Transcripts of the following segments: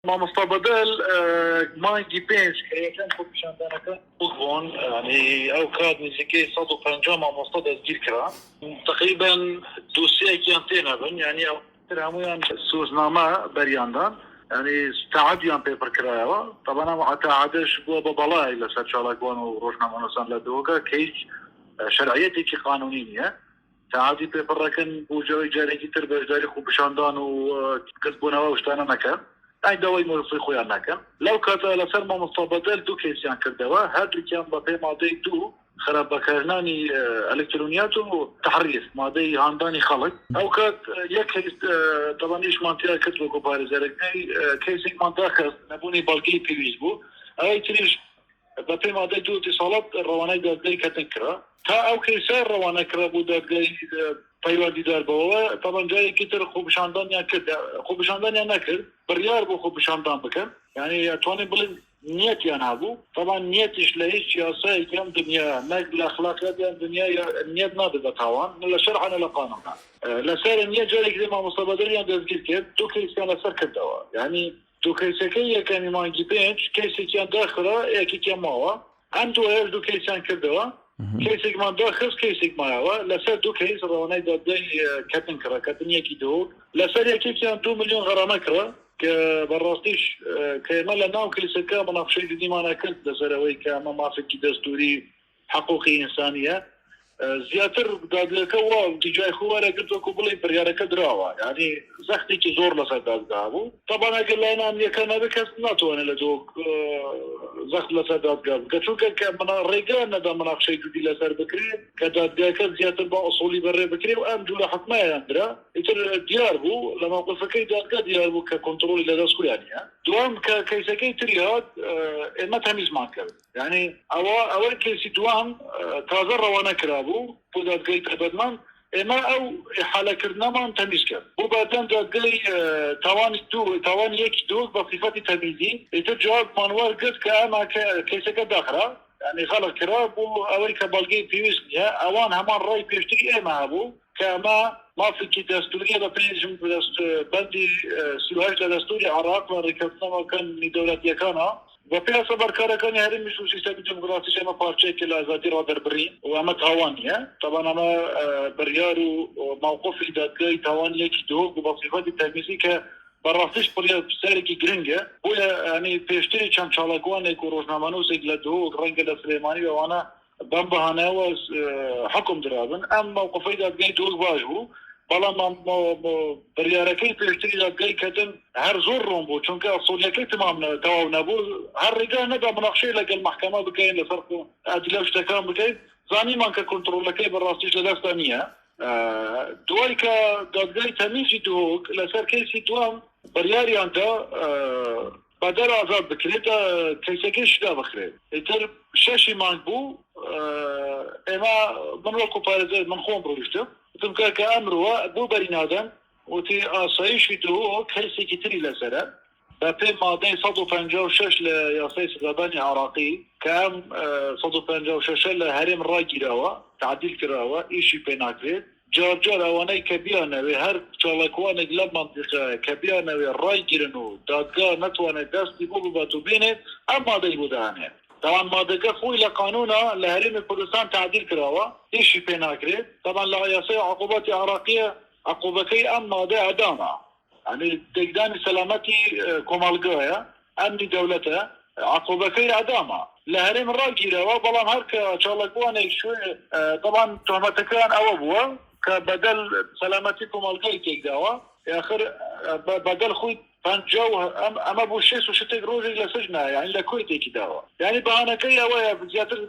مامۆستا بەدەل مانگی پێنج کە یەکەم خۆپیشاندانەکان بووک بوون یانی ئەو کات نزیکەی سەد و پەنجا مامۆستا دەستگیر کرا تەقریبەن دوسیەکیان تێ نەبن یانی ئەو تر هەموویان سوزنامە بەریاندان یانی تەعەدیان پێ پڕ کرایەوە تەبەن ئەم تەعەدەش بووە بە بەڵای لەسەر چالاکوان و ڕۆژنامەنووسان لە دهۆکە کە هیچ شەرعیەتێکی قانونی نییە سەعاتی پێ پڕ ئەکەن بۆ جۆی جارێکی تر بەژداری خۆ پیشاندان و کەس بۆنەوە شتانە نەکەن ئەی داوای مۆرفی خۆیان نەکەن لەو کاتە لەسەر مامۆستا بەدەل دوو کەیسیان کردەوە هەردووکیان بە پێ مادەی دوو خراپ بەکارنانی ئەلکترۆنیات و تحریف مادەی هاندانی خەڵک ئەو کات یەک کەیس تەبان ئیشمان تیا کرد وەکو پارێزەرەکەی کەیسێکمان داخست نەبوونی بەڵگەی پێویست بوو ئەوەی تریش بەپێی مادەی دوو دەسەڵات ڕەوانەی دادگای کەتنگ کرا تا ئەو کەیسە ڕەوانە کرا بۆ دادگای پەیوەندیدار بەوە تەبەن جارێکی تر خۆپیشاندانیان کرد خۆپیشاندانیان نەکرد بڕیار بۆ خۆپیشاندان بکەن یعنی یاتوانین بڵێن نیەتیان هەبوو تەبەن نیەتیش لە هیچ یاسایەکی ئەم دنیا نەک لە ئەخلاقیاتی ئەم دنیا نیەت نابێت بە تاوان نە لە شەرعە نە لە قانونا لەسەر نیە جارێکی تر مامۆستا بەدریان دەستگیر کرد دوو کەیسیان لەسەر کردەوە یعنی دوو کەیسەکەی یەکەمی مانگی پێنج کەیسێکیان داخرا یەکێکیان ماوە ئەم دوایەش دوو کەیسیان کردەوە کەیسێکمان داخست کەیسێک مایەوە لەسەر دوو کەیس ڕەوانەی دادگای کەتن کڕا کەتن یەکی دۆک لەسەر یەکێکیان دوو ملیۆن غەرامە کڕا کە بەڕاستیش کە ئێمە لە ناو کەیسەکە موناقشەی جدیمان ئەکرد لەسەر ئەوەی کە ئەمە مافێکی دەستووری حقوقی ئینسانیە زیاتر دادگەکە وا جای خۆی وەرەگرت وەکو بڵێین بڕیارەکە دراوە یانی زەختێکی زۆر لەسەر دادگا بوو تەبان ئەگەر لایەن ئەمنیەکان نەبێت کەس ناتوانێت لە دۆ زەخت لەسەر دادگا بکە چونکە کە منا ڕێگەیان نەدا مناقشەی جودی لەسەر بکرێت کە دادگاکە زیاتر بە ئەسۆلی بەڕێ بکرێ و ئەم جوورە حکمایان درا ئیتر دیار بوو لە مەوقفەکەی دادگا دیار بوو کە کۆنتترۆلی لەدەست خۆیانە دوام کە کەیسەکەی تری هات ئێمە تەمیزمان کرد یانی ئەوە ئەوەی کەیسی دووەم تازە ڕەوانە کرابوو بۆ دادگای تایبەتمان، ئێمە ئەو ئیحالەکردنەمان تەمیز کرد بۆ بەردەم دادگای تاوانی دوو و تاوانی یەکی دۆک بە سیفەتی تەمیزی، ئیتر جوابمان وەرگرت کە ئەمە کەیسەکە داخرا یانی غەڵق کرا بۆ ئەوەی کە بەڵگەی پێویست نییە، ئەوان هەمان ڕای پێشتری ئێمە هەبوو کە ئەمە مافێکی دەستوورییە بە پێی بەندی سی و هەشت لە دەستووری عێراق و ڕێککەوتننامە کانوونی دەولەتییەکانەوە. و پێ سەبارکارەکانی هەرێمی سوو سیستەمی دێموکراسیش ئەمە پارچەیەکە لە ئازادی ڕادەربڕین و ئەمە تاوانیە تابان ئەمە بریار و مەوقفی دادگای تاوانی یەکی دهۆک و بە سیفەتی تەمیزی کە بە ڕاستیش پڕیە پرسیارێکی گرنگە بۆیە ئەنی پێشتری چەند چاڵاکوانێک و ڕۆژنامەنووسێک لە دهۆک ڕەنگە لە سلێمانی و ئەوانە بەم بەهانایەوە حوکم درابن ئەم مەوقفەی دادگای دۆست باش بوو بەڵام بڕیارەکەی پێشتری دادگای کەتن هەر زۆر ڕۆم بوو چونکە ئەسۆلیەکەی تمام تەواو نەبوو هەر ڕێگا نەدا مناقشەی لەگەل مەحکەمە بکەین لەسەر ئەدلە شتەکان بکەین زانیمان کە کونترۆلەکەی بەڕاستیش لە دەستا نییە دوای کە دادگای تەمیزی دهۆک لەسەر کەیسی دوام بڕیاریاندا بەدەر ئازاد بکرێت کەیسەکەیش دا بخرێت ئیتر شەشی مانگ بوو ئێمە من وەکو پارێزەر من خۆم ڕۆیشتم وتم کاکە ئەمرۆوە بۆ بەری نادەن وتی ئاسایشی دهۆک کەیسێکی تری لەسەرە بەپێی مادەی سەد و پەنجا و شەش لە یاسای سزادانی عێراقی کە ئەم سەد و پەنجا و شەشە لە هەرێم ڕاگیراوە تعدیل کراوە ئیشی پێ ناکرێت جار جار ئەوانەی کە بیانەوێ هەر چاڵاکوانێک لەم مەنتیقە کە بیانەوێ ڕای گرن و دادگا نەتوانێ دەستی بۆ ببات و بێنێت ئەم مادەی بۆ دانێ تەبان مادەکە خۆی لە قانونا لە هەرێمی کوردستان تەعدیل کراوە ئیشی پێ ناکرێت تەبان لە یاسای عقوبات عێراقیە عقوبەکەی ئەم مادە ئەدامە. ئەمنی تێکدانی سەلامەتی کۆمەڵگایە، ئەمنی دەولەتە، عقوبەکەی ئەدامە لە هەرێم راگیراوە، بەڵام هەر کە چاڵەکوانێک شوێ دەڵان تۆمەتەکەیان ئەوە بووە کە بەدەل سەلامەتی کۆمەڵگای تێکداوە، ئاخر بە بەدەل خوی پەنجا و ئەمە بوو شێست و شتێک رۆژێک لە سجنە، یانی لە کوێ تێکی داوە، یانی بەهانەکەی ئەوەیە زیاتر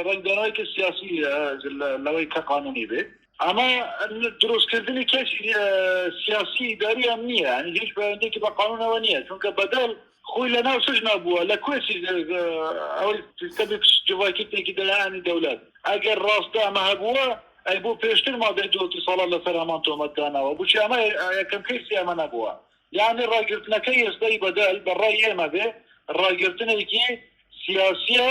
رەنگدانەوەیەکی سیاسی لەوەی کە قانونی بێ. ئەمە دروستکردنی کەیسی سیاسی ئیداری ئەمنیە یانی هیچ پەیوەندیەکی بە قانونەوە نییە چونکە بەدەل خۆی لە ناو سجنا بووە لە کوێ ئەوەی سیستەمی جڤاکیتێکی دەلایەنی دەولەت ئەگەر ڕاستە ئەمە هەبووە ئەی بۆ پێشتر مادەی دووەتی ساڵە لەسەر هەمان تۆمەت داناوە بچی ئەمە یەکەم کەیسی ئەمە نەبووە یانی ڕاگرتنەکەی ئێستای بەدەل بە ڕای ئێمە بێ ڕاگرتنێکی سیاسیە،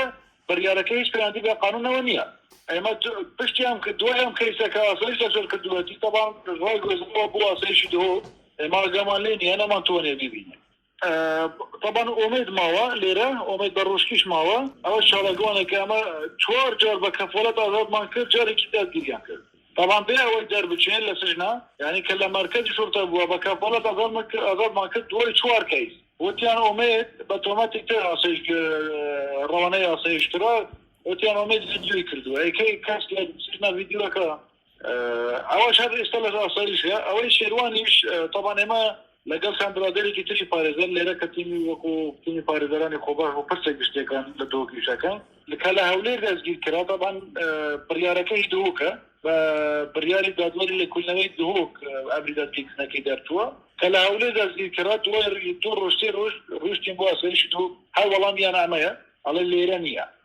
بریارەکە هیچ پەیوەندی بە قانونەوە نیە. ئێمە پشتی ئەم دوای ئەم کەیسە کە ئاسایش لەجەر کردوەتی تەبان ڕایگوێزراوە بۆ ئاسایشی دهۆک ئێمە ئاگامان لێ نیە نەمان توانیە بیبینین. تەبان ئۆمێد ماوە لێرە ئۆمێد بەڕوشکیش ماوە. ئەوەش چاڵاکوانێکە ئەمە چوار جار بە کەفالەت ئازادمان کرد جارێکی دادگیریان کرد. بەڵام بێ ئەوەی دەربچێ لە سجنە یانی کە لە مەرکەزی شورتە بووە بە کەفالەت ئازادمان کرد دوای چوار کەیس وتیان ئومێد بە تۆمەتی تر ئاسایش ڕەوانەی ئاسایش کرا وتیان ئومێد ڤیدیۆی کردووە ئەی کەی کەس لە سجنە ڤیدیۆکە ئەوەش هەر ئێستا لە ئاسایشە ئەوەی شێروانیش تەبان ئێمە لەگەڵ چەند برادەرێکی تری پارێزەر لێرە کە تیمی وەکو تیمی پارێزەرانی خۆبەخش بوو پرسێک گشتیەکان لە دۆ کیشەکە کە لە هەولێر دەستگیر کرا تەبعەن بڕیارەکە هی دهۆکە بە بڕیاری دادوەری لە کولنەوەی دهۆک ئەمری دەستگیر کردنەکەی دەرچووە کە لە هەولێر دەستگیر کرا دوای دوو ڕۆژ سێ ڕۆژ ڕۆشتین بۆ ئاسایشی دهۆک هەر وەڵامیان ئەمەیە ئەڵێ لێرە نییە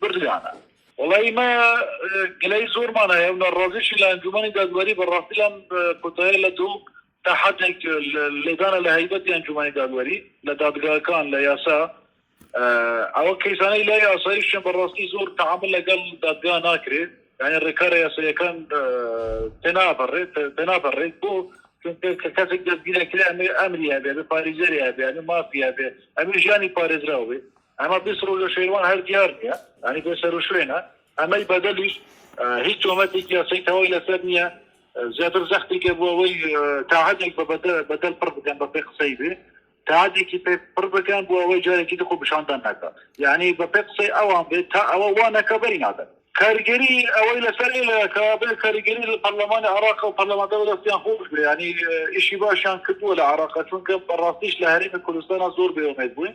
بڕیانە وەڵا ئیمە گلەی زۆرمان هەیە و نەڕازیشی لە ئەنجومەنی دادوەری بەڕاستی لەم کۆتایە لە دڵ تا حەدێک لێدانە لە هەیبەتی ئەنجومەنی دادوەری لە دادگاکان لە یاسا ئەوە کەیسانەی لای ئاسایشیان بەڕاستی زۆر تعامل لەگەڵ دادگا ناکرێت یعنی ڕێکارە یاسایەکان تێنابڕێت تێنابڕێت بۆ کە کەسێک دەستگیرەکرێ ئەمری هەبێ بە پارێزەری هەبێ ئەمە مافی هەبێ ئەمە ژیانی پارێزراوێ ئەمە بێ سەرو لە شەیوان هەر دیار نیە ئەنی بێ سەرو شوێنە ئەمەی بەدەلیش هیچ تۆمەتێک یاسای تەوەی لەسەر نییە زیاتر زەختی کە بۆ ئەوەی تاعاتێک بە بەدەل پڕ بکەن بە پێ قسەی بێ تاعاتێکی پێ پڕ بکەن بۆ ئەوەی جارێکی دخۆ بشاندان ناکە یعنی بە پێ قسەی ئەوان بێت تا ئەوە وا نەکە بەری نادەن کاریگەری ئەوەی لەسەر لەکە بێ کاریگەری لە پەرلەمانی عراق و پەرلەماندا دەستیان خۆش بێ ینی ئیشی باشیان کردووە لە عراق چونکە بەڕاستیش لە هەرێمی کوردستانە زۆر بێومێت بووین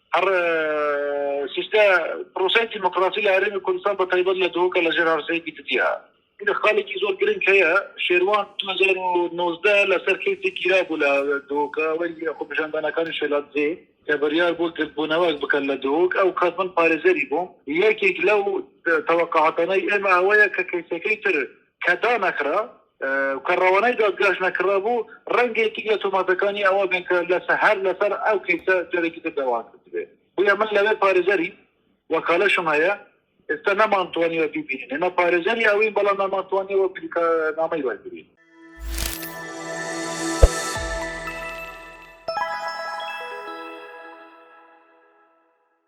هەر سیستە پرۆسەی دیموکراسی لە هەرێمی کوردستان بە تایبەت لە دهۆکە لە ژێر هەرسەی دیکتیا لە خالێکی زۆر گرنگ هەیە شێروان 2019 لەسەر کەیسی گیرا بوو لە دهۆکە وەری خۆپیشاندانەکانی شێلادزێ کە بڕیار بۆ گردبوونەوەک بکەن لە دهۆک ئەو کات من پارێزەری بووم یەکێک لەو تەوەقعاتانەی ئێمە ئەوەیە کە کەیسەکەی تر کە دانەخرا و کە رەوانەی دادگاش نەکرابوو، رەنگە یەکێک لە تۆماتەکانی ئەوە بێت کە هەر لەسەر ئەو کەیسە جارێکی تر داوام کردبێت. بۆیە من لەوێ پارێزەری وەکالەشم هەیە، ئێستا نەمانتوانیوە بیبینین. ئێمە پارێزەری ئەوین، بەڵام نەمانتوانیوە بریکارنامەی وەرگرین.